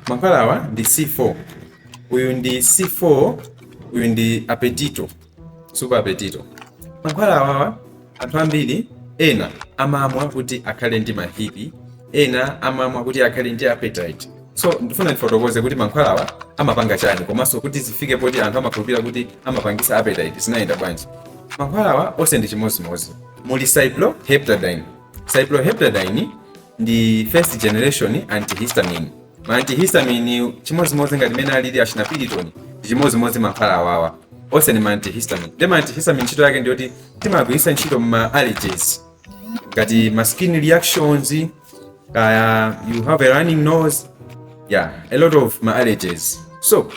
Mankhwala awa ndi C4. Uyu ndi C4, uyu ndi apetito, super apetito. Mankhwala awawa anthu ambiri ena amamwa kuti akhale ndi mahipi, ena amamwa kuti akhale ndi appetite. So ndifuna ndifotokoze kuti mankhwala awa amapanga chani komanso kuti zifike poti anthu amakhulupirira kuti amapangisa appetite zinayenda bwanji. Mankhwala awa onse ndi chimodzimodzi. Muli cyproheptadine. Cyproheptadine ndi first generation antihistamine. Ma antihistamine chimodzimodzi ngati mene alili achina Piriton ndi chimodzimodzi mankhwala awawa onse ndi ma antihistamine. Ndi ma antihistamine ntchito yake ndi yoti timagwiritsa ntchito ma allergies ngati ma skin reactions kaya you have a running nose yeah a lot of ma allergies so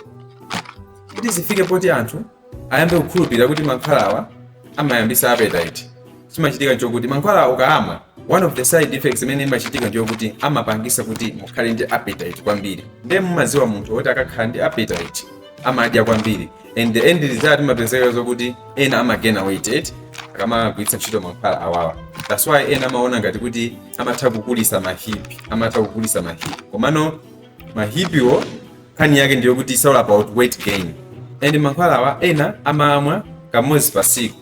kuti zifike poti anthu ayambe kukhulupirira kuti mankhwalawa amayambisa appetite chimachitika nchokuti mankhwalawa ukaamwa one of the side effects imene imachitika njokuti amapangisa kuti mukhale ndi appetite kwambiri ndiye mumaziwa munthu woti akakhala ndi appetite amadya kwambiri and the end result imapezeka zokuti ena amagena weight eti akamagwiritsa ntchito mankhwala awawa that's why ena amaona ngati kuti amatha kukulisa mahipi amatha kukulisa mahipi komano mahipiwo nkhani yake ndiyokuti it's all about weight gain and mankhwalawa ena amamwa kamodzi pa siku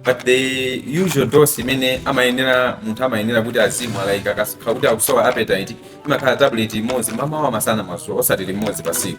but the usual dose imene amayenera munthu amayenera kuti azimwa like akakhala kuti akusowa appetite imakhala tablet imodzi mamawa masana madzulo osati limodzi pa siku